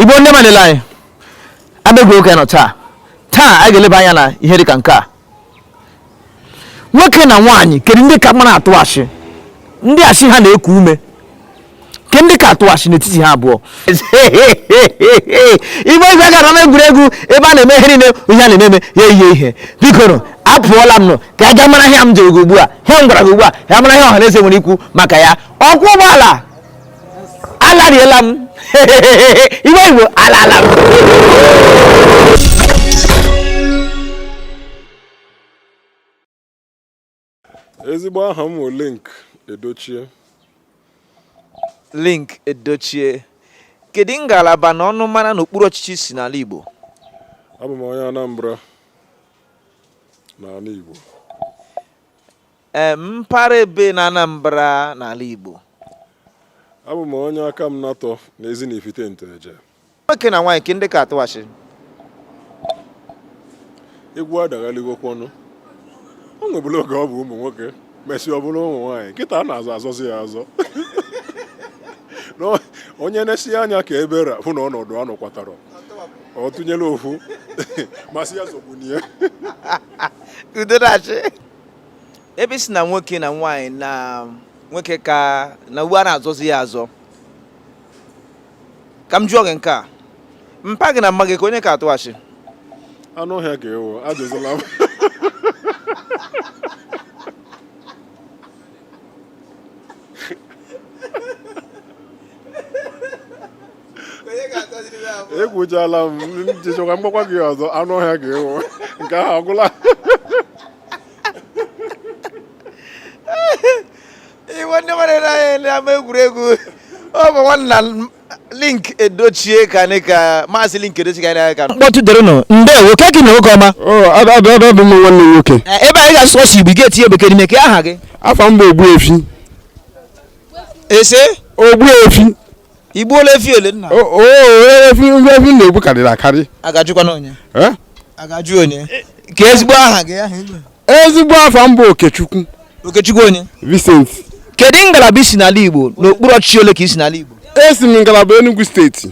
igbo ndị malele anyị abịagwuo oke nọ taa taa anyị ga-eleba anya na ihe dịka nke a nwoke na nwaanyị kedu ndị ka mara atụ asị ndị asị ha na-eku ume ke ndị ka atụ asị n'etiti ha abụọ igbe igwe gara na egwuregwu ebe a na-eme ihe niile ihe a na-eme ya ihe ihe bikoro apụọla m nọ ka a ga mara ihe m jụrụ gị ugbu a ihe m gwara gị ugbu a ya mara ihe ọha na eze nwere ikwu maka ya ọkụ agbaala alariela m iwe igbo alala m ezigbo aha m link edochie link edochie kedu ngalaba na ọnụmara n'okpuru ọchịchị i si n'ala igbo abụ m onye anambra n'ala igbo mpaghara ebee na Anambra n'ala Igbo abụ m onye akamanatọ na ezi na ifite nteje nwoke na nwaanyị kee ndị ka atụ asị egwu adaghaligokwanụ o nwebulu oge ọ bụ ụmụ nwoke mesịa ọ bụrụ ụmụ nwaanyị kịta a na-azọ azọzi ya azọ onye na-esi anya ka ebe ra hụ na ọnọdụ anụ kwatara ọ tụnyere ofu masị ya zọgbunye udo na-achị ebe ị sị na nwoke na nwaanyị na nwoke ka na uwe a na-azọzi ya azọ ka m jụọ gị nke a mpa gị na mma gị kee onye ka atụ asị anụ ọhịa ka ị wụ ajụzila m ekwuchala m jichekwa mgbakwa gị ọzọ anụ ọhịa ka ị wụ nke ahụ ọgwụla iwe ndị mmadụ na-anya n'ama egwuregwu ọ bụ nwanna link edochie ka anyị ka maazị link edochie ka anyị na-aga ka mkpọtụ derenụ ndewo ka gị na oge ọma adadadụ m nwanne nwoke Eh, ebe anyị ga-asụ sọsọ igbo ị ga-etinye bekee n'ime kee aha gị afa m bụ ogbuefi ese ogbuefi i gbuola efi ole nna O- o e- efi ndị efi m na-egbu karịrị akarị a ga-ajụkwanụ onye Eh? a ga-ajụ onye kee ezigbo aha gị aha igwe ezigbo afa m bụ okechukwu okechukwu onye vincent kedu ngalaba i si n'ala igbo n'okpuru ọchịchị ole ka i si n'ala igbo esi m ngalaba enugu steeti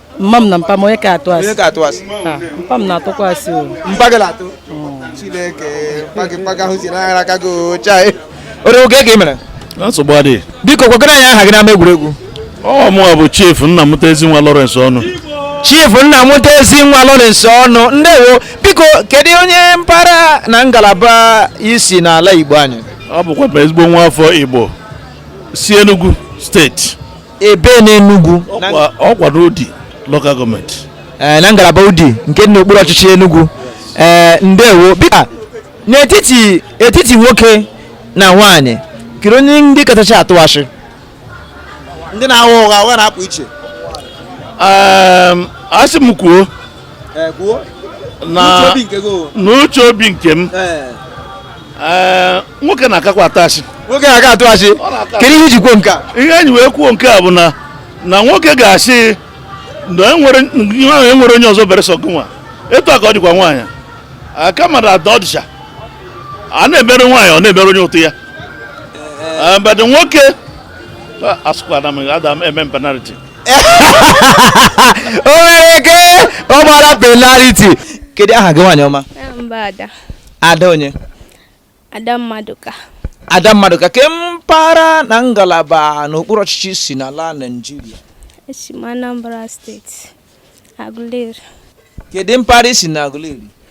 mma m na mpa m onye ka atụ asị onye ka atụ asị ah, mpa m na-atụkwa asị o mpa gị na-atụ oh. chineke mpa gị mpa gị ahụsiela anya aka gị o chai ore oge ka ị mere nsogbu adịghị biko gwakwanụ anyị aha gị n'ama egwuregwu ọ mụ bụ chief nna mụta ezi nwa Lawrence ọnụ chief nna mụta ezi nwa Lawrence ọnụ ndewo biko kedu onye mpaghara na ngalaba i si n'ala Igbo anyị ọ bụkwa ezigbo nwa afọ Igbo si Enugu steeti ebe n'Enugu ọkwa n'Udi local gọọmenti eh, na ngalaba Udi nke dị n'okpuru ọchịchị Enugu eh, ndewo biko n'etiti etiti nwoke na nwaanyị kedu onye ndị kachacha atụ asị ndị na-agha ụgha ụgha na-apụ iche ehm, a sị m kwuo n'uche obi nke m nwoke na-akakwa atụ asị nwoke na-aka atụ asị kedu ihe i ji kwuo nke a ihe m ji wee kwuo nke a bụ na na nwoke ga-asị na ya enwerọ onye ọzọ bere sọ gị nwa etu a ka ọ dịkwa nwaanyị aka mmadụ ada ọ dịcha a na-emere nwaanyị ọ na-emere onye ụtụ ya but nwoke asụkwana m ada m eme penaliti o nwere ike ọ gbara penaliti kedu aha gị nwaanyị ọma mba ada ada onye ada mmadụka ada mmadụka kee mpaghara na ngalaba n'okpuru ọchịchị i si n'ala naijiria esi m anambra steeti agụleri kedu mpaghara i si na agụleri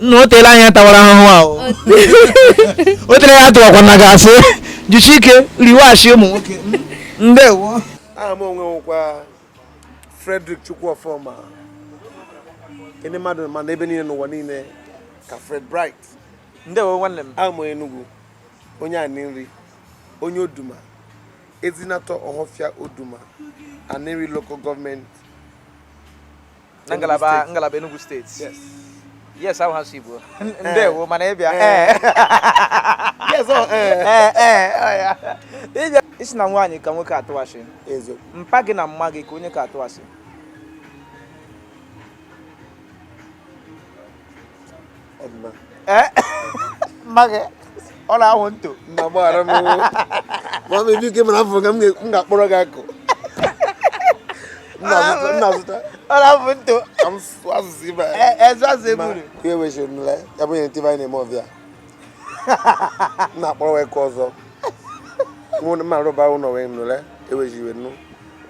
nna o teela anya tawara ahụhụ ahụ o tere ya tụwakwara gị asị jisi ike riwe asị ụmụ nwoke ndewo aha mụ nwa wụkwa Frederick Chukwuofoma ndị mmadụ ma n'ebe niile n'ụwa niile ka Fred Bright ndewo nwanne m abụ m onye Enugu onye Aninri onye Oduma Ezinatọ Ohofia Oduma, Aninri Local Government. Na ngalaba ngalaba Enugu Steeti. Yes. Yes, ahụ ha si Igbo. Eh. Ndewo maka ịbịa. Eh. Eh. Yes, ọ ee ee ya. Ebe ị sị na nwaanyị ka nwoke atụ asị. Eziokwu. Mpa gị na mma gị kee onye ka atụ asị. mma gị ọ na-atụ ntụ nna gbaghara m ma m ebi ike mara afọ ka m ga-akpọrọ gị akụ nna zụta ọ na-atụ ntụ asụsụ ibe ezu asụ eburu ka e wechiri nle ya bụ nye ntị anyị na-eme ọbịa nna akpọrọ wee ka ọzọ mụ na mma rụba ụlọ wee nụle ewechiri wee nụ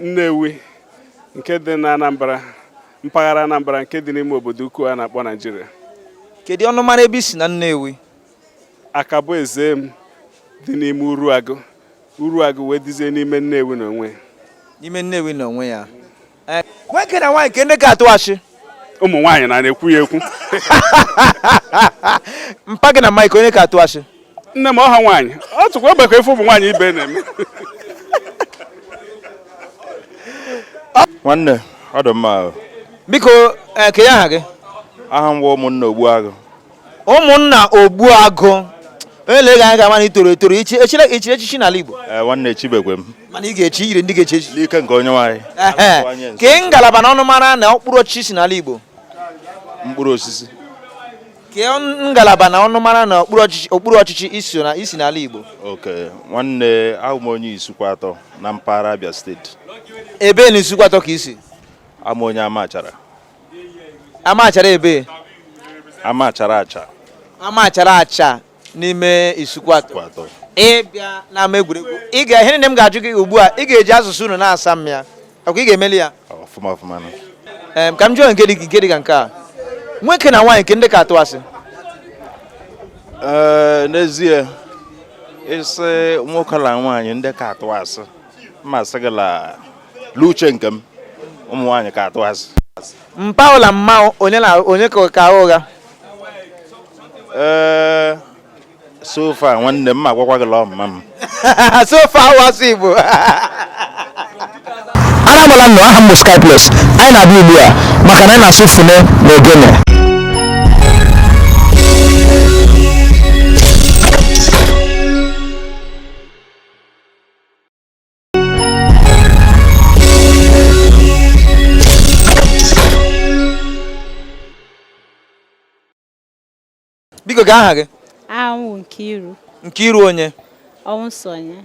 Nnewi nke dị na Anambra mpaghara Anambra nke dị n'ime obodo ukwu a na-akpọ Naijiria. Kedu ọnụmara ebe i si na Nnewi? Akaboezem dị n'ime Uruagụ. Uruagụ wee dịzie n'ime Nnewi n'onwe. N'ime Nnewi n'onwe ya. Nwoke na nwaanyị kee ndị ka atụ asị. ụmụ nwaanyị a na-ekwu ya ekwu mpa gị na mma gị onye ka atụ asị nne m ọha nwaanyị ọ tụkwa egbe ka efe ụmụ nwaanyị ibe na-eme nwanne ọ dị mma biko eh, kee aha gị aha m nwa Ụmụnna Ogbuagụ Ụmụnna Ogbuagụ e lee gị anya a ga-ama na i toro etoro i chiri echichi n'ala Igbo eh, nwanne echibeghị m mana ị ga-echi i yiri ndị ga-echi echichi n'ike nke onye nwaanyị kee ngalaba na ọnụmara na mkpụrụ osisi i si n'ala Igbo mkpụrụ osisi kee ngalaba na ọnụmara na okpuru ọchịchị i so na i si n'ala Igbo okay nwanne awụ m onye Isuikwuatọ na mpaghara Abia steeti ebe na Isuikwuatọ ka i si awụ m onye Amachara Amachara ebe Amachara Acha Amachara Acha n'ime Isuikwuatọ ị bịa n'ama egwuregwu ị ga ihe niile m ga-ajụ gị ugbu a ị ga-eji asụsụ unu na-asa m ya ọ kwa ị ga-emeli ya ọfụma ọfụma ka m jụọ nke dị nke dị ka nke a nwoke na nwaanyị kee ndị ka atụ asị ee n'ezie ị sị nwoke na nwaanyị ndị ka atụ asị mmasị gị la l'uche nke m ụmụ nwaanyị ka atụ asị mpa gị na mma gị onye na onye ka ka agha ụgha ee eh, so far nwanne m ma agwakwa gị lọọ mma m so far ahụ asụ igbo aramala nnọọ aha m bụ Skyplus anyị na-abịa ugbu a maka na anyị na-asụ fune na ogene biko kee aha gị aha m wụ Nkiru Nkiru onye Ọnwụsonye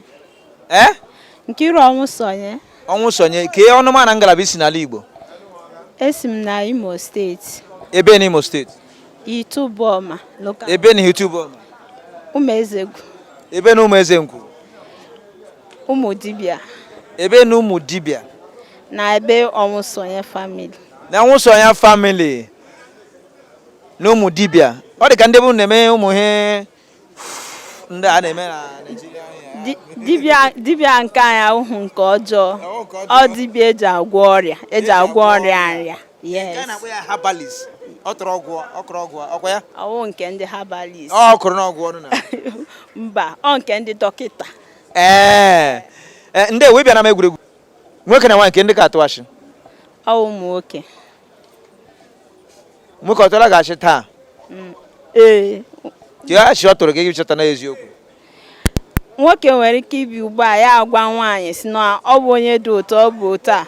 ee Nkiru Ọnwụsonye Ọnwụsonye kee ọnụma na ngalaba i si n'ala Igbo esi m na Imo steeti ebe na Imo steeti Ihitte Uboma local ebe na Ihitte Uboma Umuezegwu ebe na Umuezegwu Ụmụdibịa ebe na Ụmụdibịa na ebe Ọnwụsonye family na Ọnwụsonye family na Ụmụdibịa ọ dị ka ndị be unu na-eme ụmụ ihe ndị a na-eme na Naịjirịa dibịa nke anyị awụhụ nke ọjọọ ọ dibịa e ji agwọ ọrịa e ji agwọ ọrịa nrịa yes ọ tụrụ ọgwụ ọkụrụ ọgwụ ọ kwa ya ọ wụ nke ndị herbalist ọ kụrụ n'ọgwụ ọnụ na mba ọ nke ndị dọkịta ee eh, ndị ewe bịara m egwuregwu nwoke na nwaanyị kee ndị ka atụ ashị ọ wụ ụmụ nwoke nwoke ọ tụọla gị ashị taa mm, kee ashị ọ tụrụ gị gị chọta n'eziokwu nwoke nwere ike ịbịa ugbu a ya agwa nwaanyị sị na ọ bụ onye dị otu ọ bụ otu a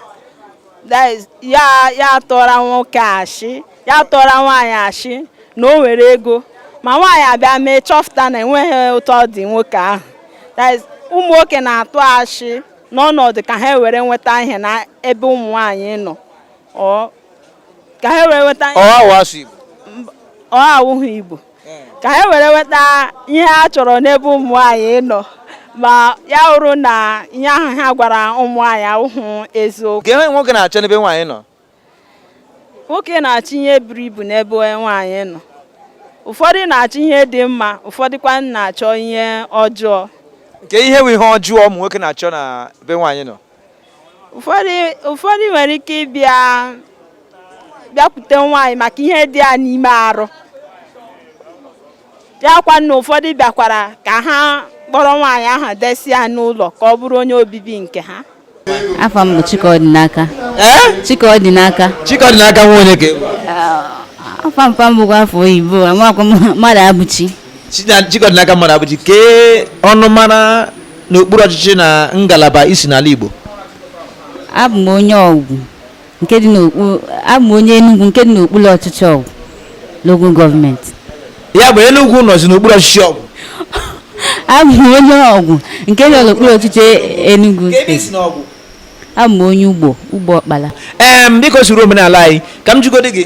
ya tụọra nwoke ashị ya tụọra nwaanyị ashị na o nwere ego ma nwaanyị abịa mee chọpụta na enweghị otu ọ dị nwoke ahụ ụmụ nwoke na-atụ ashị n'ọnọdụ ka ha were nweta ihe n'ebe ụmụ nwaanyị nọ ka ha were nweta ihe ọ awụghị igbo ka ha were nweta ihe ha chọrọ n'ebe ụmụ nwaanyị nọ ma ya wụrụ na ihe ahụ ha gwara ụmụ nwaanyị awụghị eziokwu kee ihe nwoke na-achọ n'ebe nwaanyị nọ nwoke na-achọ ihe buru ibu n'ebe nwaanyị nọ ụfọdụ na-achọ ihe dị mma ụfọdụkwa na-achọ ihe ọjọọ kee ihe bụ ihe ọjọọ ụmụ nwoke na-achọ n'ebe nwaanyị nọ ụfọdụ nwere ike ịbịa bịakwute nwaanyị maka ihe dị ya n'ime arụ bịakwa na ụfọdụ bịakwara ka ha kpọrọ nwaanyị ahụ desi ya n'ụlọ ka ọ bụrụ onye obibi nke ha afa m bụ Chikọdịnaka Chikọdịnaka Chikọdịnaka nwa onye ka afa mpa m bụkwa afa oyibo amakwa Mmadụabụchi Chikọdịnaka Mmadụabụchi kee ọnụmara na okpuru ọchịchị na ngalaba i si n'ala Igbo abụ m onye Ọgwụ nke dị n'okpu abụ m onye Enugu nke dị n'okpuru ọchịchị Ọgwụ lokal gọọmenti ya bụ Enugu nọzi n'okpuru ọchịchị Ọgwụ abụ m onye Ọgwụ nke dị n'okpuru ọchịchị Enugu steeti abụ m onye Ugbo Ugbo Ọkpala ee biko soro omenala anyị ka m jụgodi gị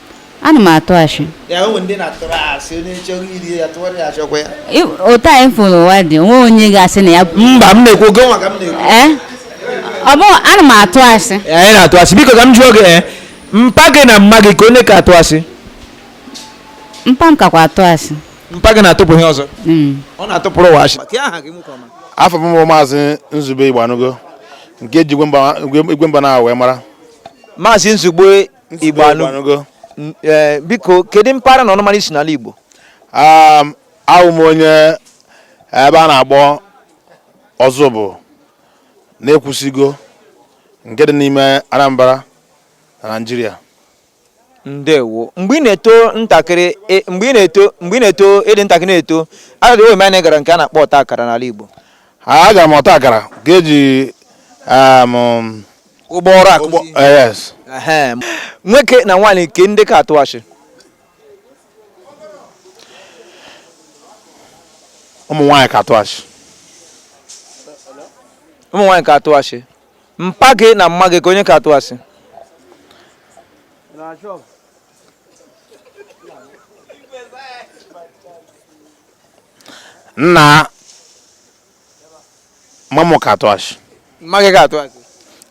ana m atụ asị otu anyị fụrụ ụwa dị o nwe onye ga-asị na ya mba m na-ekwu ọ gị nwa ka m na-ekwu eh? ọ bụ ana m atụ asị anyị na-atụ asị biko ka m jụọ gị eh, mpa gị na mma gị kee onye ka atụ asị mpa m kakwa atụ asị mpa gị na-atụpụ ihe ọzọ hmm. ọ na-atụpụrụ ụwa asị afa m bụ maazị Nzube Igboanụgo nke e ji Igwe Mba na wee mara maazị Nzube Igboanụgo e, biko kedu mpaghara na ọnụmara i si n'ala Igbo um, awụ m onye ebe a na-akpọ Ọzụbụlụ na Ekwusigo nke dị n'ime Anambra na Naịjirịa ndewo mgbe ị na-eto ntakịrị e, mgbe ị na-eto mgbe ị na-eto ị dị ntakịrị na-eto adịghị oyi anyị gara nke a na-akpọ ọta akara n'ala Igbo agara m ọta akara ga-eji um, ụgbọ ọrụ akụzi eh, nwoke na nwaanyị kee ndị ka atụ asị ụmụ nwaanyị ka atụ asị ụmụ nwaanyị ka atụ asị mpa gị na mma gị kee onye ka atụ asị nna mma mụ ka atụ asị mma gị ka atụ asị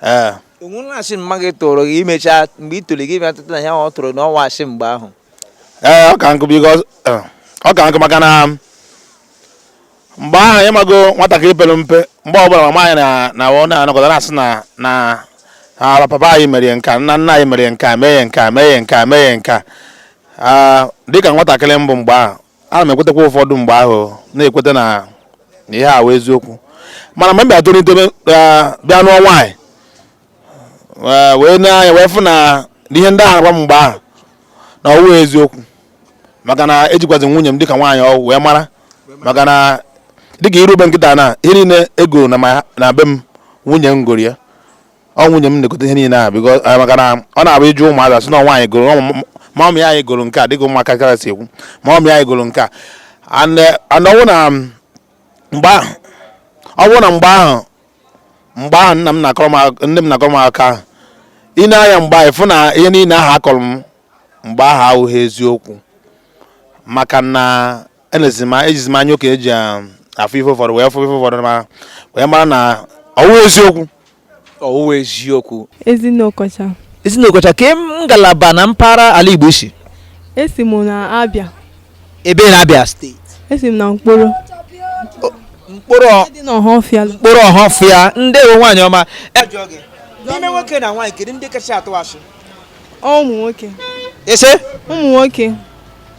ee onwere asị mma gị tụrụ gị emechaa mgbe i toro gị bịa chọta na ihe ọ tụrụ na ọ wụ asị mgbe ahụ ee ọ ka m kwuo biko eh, ọ ka m kwuo maka na mgbe ahụ ị mago nwatakịrị pere mpe mgbe ọbụla mama anyị na- na ọ na-anọkọta na-asị na na na papa anyị mere ya nke a nna nna anyị mere ya nke a mee ya nke a mee ya nke a mee ya nke a Ah, dịka nwatakịrị m bụ mgbe ahụ ana m ekwetakwa ụfọdụ mgbe ahụ na-ekweta na na ihe ahụ wụ eziokwu mana mgbe m bịa tolite bịa nụọ nwaanyị eh, wee nee anya wee fụ na ihe ndị ahụ agwa m mgbe ahụ na ọwụghị eziokwu maka na ejikwazi nwunye m dịka nwaanyị ọwụ wee mara maka na dịka i ruo be m kịta na ihe niile e goro na be m nwunye m goro ya ọ nwunye m na-egote ihe niile ahụ biko eh, maka na ọ na-abụ ị jụọ ụmụazị a sị na nwaanyị goro ọ m- mummy anyị goro nke a dịka ụmụaka si ekwu mummy anyị goro nke a And, eh, and ọ bụrụ na um, mgbe ahụ ọ bụrụ na mgbe ahụ mgbe ahụ nna m na-akọrọ m ak- nne m na-akọrọ m akụkọ ahụ i nee anya mgbe ahụ ị fụ na ihe niile ahụ a kọrọ m mgbe ahụ awụghị eziokwu maka na enezi m ejizi m anya oke eji um, afụ ife ụfọdụ wee fụ ife ụfọdụ ma wee mara na ọwụghị eziokwu ọwụghị eziokwu Ezinne Okocha. ezinne okocha kee ngalaba na mpaghara ala igbo i si Esi m na Abia. ebee na Abịa steeti Esi m na Nkporo. Nkporo ọ- Dị n'Ọhafịa. Nkporo Ọhafịa ndewo nwaanyị ọma n'ime nwoke na nwaanyị kedu ndị kacha atụ asị Ụmụ nwoke. ị sị Ụmụ nwoke.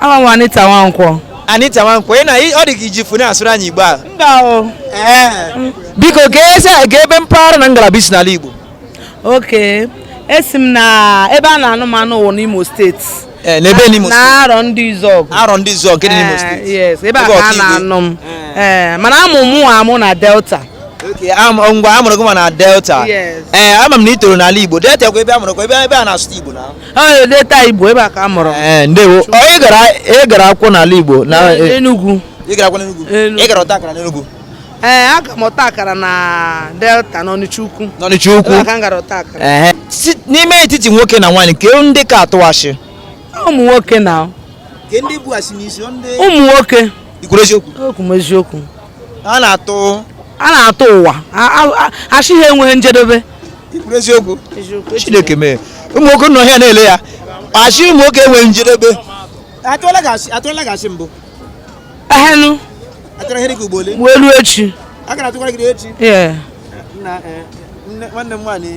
Aha m Anita Nwankwọ. Anita Nwankwọ, ị na ọ dị ka i ji fone asụrụ anyị Igbo a? Mba o. Biko kee ebe mpaghara na ngalaba i si n'ala Igbo. Okay. Esi m na ebe a na-anụ m anụ wụ n'Imo steeti. Eh, ebee n'Imo steeti. Na Arọndizuọgụ. Arọndizuọgụ nke dị n'Imo eh, steeti. Yes, ebe a ka a na-anụ m. Eh. Mana a mụ mụwa amụ na Delta. ngwa a mụrụ gị amụ na delta ee eh, ama m na ị toro n'ala igbo delta kwa ebe a mụrụ kwa ebe a na-asụ igbo na delta igbo ebe a ka a mụrụ eh, ndewo ị gara akwụkwọ n'ala igbo na Enugu ị gara akwụkwọ n'Enugu ị gara ọta akara n'Enugu ee eh, aga m ọta akara na delta n'ọnịcha ukwu n'ọnịcha ukwu ebe a ka m gara ọta akara eh, n'ime etiti nwoke na nwaanyị kee ndị ka atụ asị ụmụ nwoke na ụmụ nwoke i kwuru eziokwu eziokwu a na-atụ a na-atụwa asị ha enweghị njedebe eziokwu chineke mee ụmụ nwoke nọ ya na-ele ya asị ụmụ nwoke enweghị njedebe atụọla gị asị mbụ ehenu welu echi nwanne m nwaanyị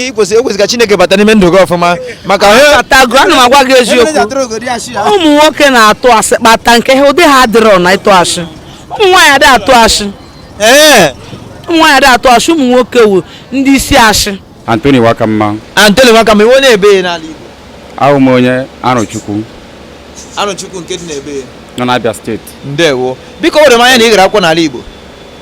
ekwesị ka Chineke bata n'ime ndụ gị ọfụma maka atago ana m agwa gị eziokwu ụmụ nwoke na-atụ asị kpata nke ha ụdị ha adịrọ na ịtụ asị ụmụ nwaanyị adị atụ asị ụmụ nwaanyị adị atụ asị ụmụ nwoke wụ ndị isi asị Anthony Wakamma Anthony Wakamma ị wụ onye ebe n'ala Igbo awụ m onye Arụchukwu Arụchukwu nke dị n'ebe nọ n'Abia steeti ndewo biko o doro m anya na ị gara akwụkwọ n'ala Igbo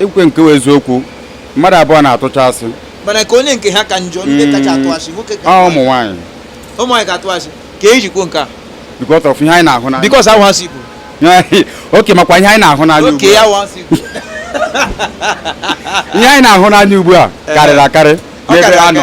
i kwukwe nke wụ eziokwu mmadụ abụọ na-atụcha asị mana ka onye nke ha ka njọ ndị hmm. kacha atụ asị nwoke ka ụmụ nwaanyị ụmụ nwaanyị ka atụ asị ka e ji kwuo nke a because of ihe anyị na-ahụ n'anya because ahụ asị bụ oke makwa ihe anyị na-ahụ n'anya ugbu a ihe anyị na-ahụ n'anya ugbu a karịrị akarị n'ebe a nọ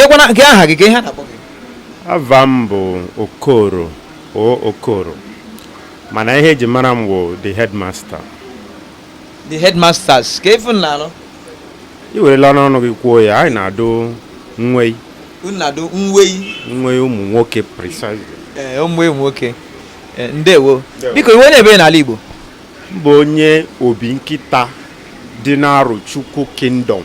kekwana nke aha gị ka ihe na-akpọ gị ava m bụ okoro o okoro mana ihe eji mara m bụ the headmaster the headmasters ka efu na-anụ i werelanụ ọnụ gị kwuo ya anyị na-adụ nwei unu na-adụ nwei nwei ụmụ nwoke precisely ee eh, ụmụ nwoke eh, ndewo biko ị wụ onye ebe n'ala Igbo m bụ onye obinkịta dị n'Arochukwu Kingdom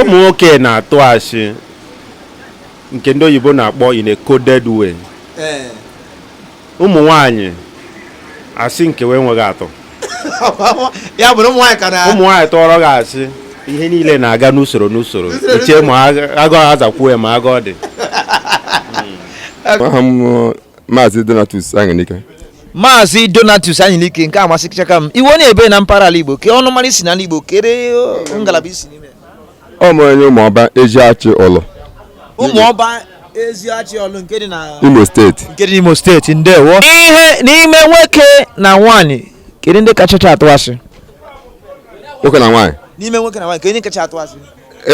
ụmụ nwoke na-atụ asị nke ndị oyibo na-akpọ in a coded way eh. ụmụ nwanyị asị nke we enweghị atụ ụmụ nwanyị tụọrọ gị asị ihe niile na-aga n'usoro n'usoro eche ma agụ azakwuo ya ma agụ ọ dị hmm. maazị Donatus Aṅụnike maazị donatus anyịlike nke a masịchaka m ị wụ onye ebe na mpaghara ala igbo ke ọnụmara i si n'ala igbo kere ngalaba i si n'ime ọ mụrụ onye ụmụọba eziachị ọlụ ụmụọba eziachị ọlụ nke dị na imo steeti nke dị n'imo steeti ndewo ihe n'ime nwoke na nwaanyị kedu ndị kachacha atụ asị nwoke na nwaanyị n'ime nwoke na nwaanyị ka onye kacha atụ asị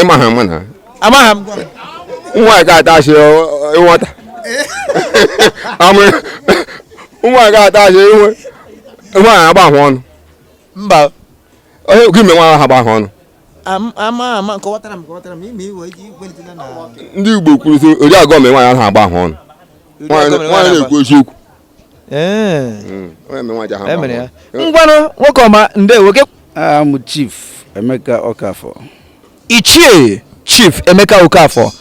ịma ha ama na amaghị m nwa ga atachi ịnwata nwa ga atachi inwe nwa ya agba ahụ ọnụ mba onye gị me nwa ha agba ahụ ọnụ ndị Igbo kwuru sị ori agọ me nwa ya ha agba ahụ ọnụ nwaanyị na-ekwu eziokwu ee Mm, onye mere nwaanyị ahụ e mere ya agbanwe. ngwanụ nwoke ọma ndewo gị aha m chief emeka okafọ ichie chief emeka okafọ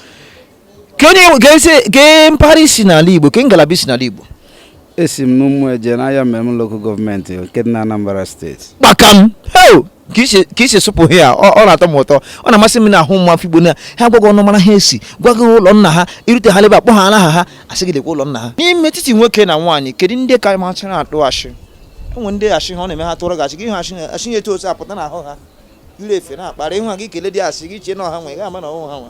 ka onye ka esi- kee mpaghara i si n'ala igbo kee ngalaba i si n'ala igbo esi m n'ụmụeje n'ayamelum lokal gọọmenti nke dị na anambra steeti kpakam heo ka i si ka i si sụpụ aha ya ọ ọ na-atọ m ụtọ ọ na-amasị m na-ahụ nwa afọ igbo na ha gwa gị ọnụmara ha si gwa gị ụlọ nna ha i rute ha lebe akpọ ha aha ha asị gị lekwa ụlọ nna ha n'ime etiti nwoke na nwaanyị kedu ndị ka machara atụ ashị o nwere ndị ashị ha ọ na-eme ha tụrụ gị ashị gị hụ ashị ha- ashị ya etu otu apụta n'ahụ ha ire efe na-akpara ịhụ ha gị kele dị asị gị chie na ọha nwe ị ga-ama na ọhụ ha nwa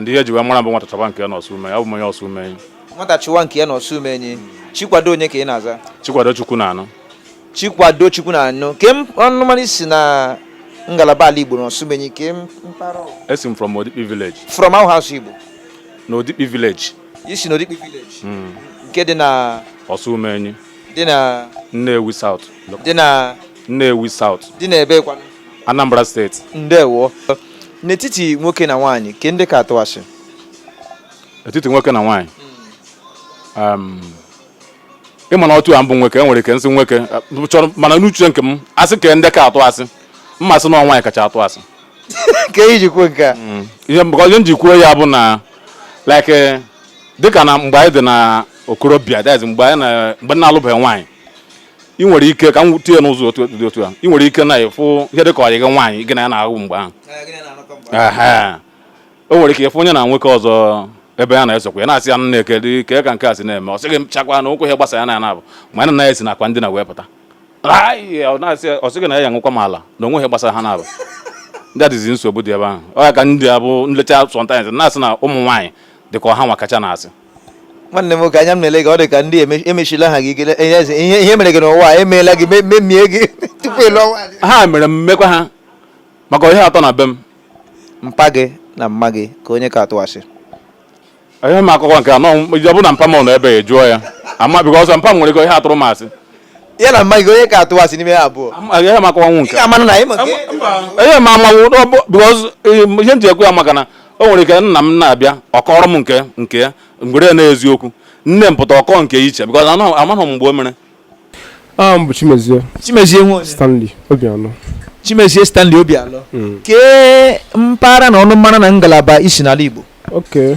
ndị ihe e ji wee mara bụ nwata chọba nke ya na ọsụmenyi bụ onye ọsụmenyi nwata chọwa nke ya na ọsụmenyi chikwado onye ka ị na-aza chikwado chukwunaanụ chikwado chukwunaanụ kee ọnụmara i si na ngalaba ala igbo na ọsụmenyi kee mpaghara ọ- esi m from odikpi village from how house igbo na odikpi village i si na odikpi village nke dị na ọsụmenyi dị na nnewi south dị na nnewi south dị na ebe kwanụ anambra steeti ndewo n'etiti nwoke na nwaanyị kee ndị ka atụ asị etiti nwoke na nwaanyị um, ị ma na otu a m bụ nwoke e nwere ike m sị nwoke uh, chọrọ mana n'uche nke m asị kee ndị ka atụ asị m asị na nwaanyị kacha atụ asị kee ihe i ji kwuo nke a mm. ihe mụ onwe m ji kwuo ya bụ na like dịka na mgbe anyị dị na okorobịa dịka mgbe anyị na-alụbeghị nwaanyị ị nwere ike ka m tinye n'ụzọ dị otu a ị nwere ike na ịfụ ihe dị ka ọyị gị nwaanyị gị na ya na-ahụ mgbe ahụ o nwere ike ịfụ ya na nwoke ọzọ ebe a na-esokwa ya na-asị ya nne kedu ka ka nke a si na-eme ọ sị gị machakwa na ụkwụ ihe gbasa ya na ya na-abụ ma ya na ya si na akwa ndina wee pụta ọ sị gị na ya ya nwekwa m ala na o nwe ihe gbasara ha na-abụ ndị adịzi nsogbu dị ebe ahụ ọ ya ka m ji abụ m lecha sometimes na-asị na ụmụ nwaanyị dị ka ọ hanwa kacha n'asị nwanne m nwoke anya m na-ele gị ọ dị ka ndị emesila ha gị ikele ihe mere gị n'ụwa emeela gị memie gị tupu ịlụ ọnwa ha mere m m mekwaa ha maka ihe atọ na be m mpa gị na mma gị kee onye ka atụ asị ihe m akụkọ nke anọ ọ bụ na mpa m nọ ebe a jụọ ya ama bikọ ọsọ mpa m nwere ike ihe atụrụ m asị ya na mma gị onye ka atụ asị n'ime ha abụọ Agaghị m akọwanwu nke. ị ga-amanụ na anyị ma nke Enye m amanwụ na ọ bụ because um, ihe m ji ekwu ya maka na o nwere ike nna m na-abịa ọ kọrọ m nke nke ya m kwere na eziokwu nne m pụta ọ kọọ nke iche because anọ- amaghị m mgbe o mere. aha m bụ chimezie chimezie nwe onye stanley obialọ chimezie stanley obialọ kee mpaghara na ọnụmara na ngalaba i si n'ala igbo oke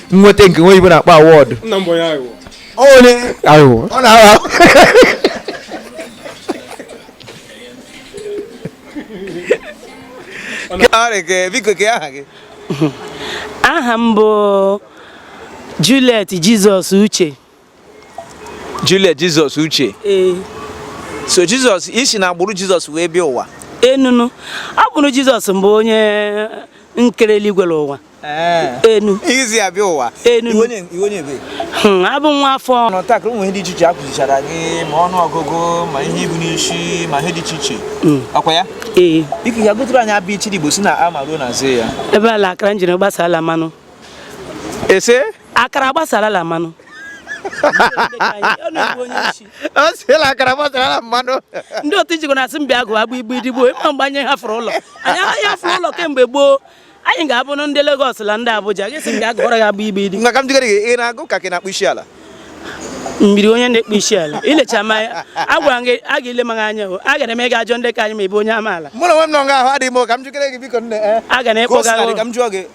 nweta nke nwe ibu na-akpọ awọdụ nna m bụ onye aghụghọ onye aghụghọ ọ na-agha biko kee aha gị aha m bụ Juliet Jizọs Uche Julia Jizọs Uche so Jizọs isi na agbụrụ Jizọs wee bịa ụwa enunu ọ bụrụ Jizọs mbụ onye nkere eluigwe ụwa enu izi abịa ụwa enu hmm, abụ nwa afọ nọtakịrị ụmụ ihe dị iche iche a kụzichara gị ma ọnụ ọgụgụ ma ihe ibu n'isi ma ihe dị iche iche hmm. ọ kwa ya ee biko ya gụtụrụ anyị abịa ichi ndị Igbo sị na ama ruo na ze ya ebe ala akara njiri gbasa ala mmanụ ese akara gbasara la mmanụ ọ sị la akara gbasara la mmanụ ndị otu ijikọ na-asị m bịa gụọ abụ Igbo ndị gboo ị ma mgbe anyị hafụrụ ụlọ anyị anaghị hafụrụ ụlọ kemgbe gboo anyị ga-abụ ndị Lagos la ndị Abuja gị sị m bịa gụọrọ gị abụ Igbo ndị gboo maka m jigara gị ị na-agụ ka gị na-akpụ isi ala mmiri onye na-ekpu isi ala ilecha ma agwara gị a ga-ele maghị anya o a gara m ịga ajọ ndị ka anyị ma ebe onye amaala mụ na nwe m nọ nga ahụ adịghị m ka m jikere gị biko nne eh. a ga na-ekpọga ka m jụọ gị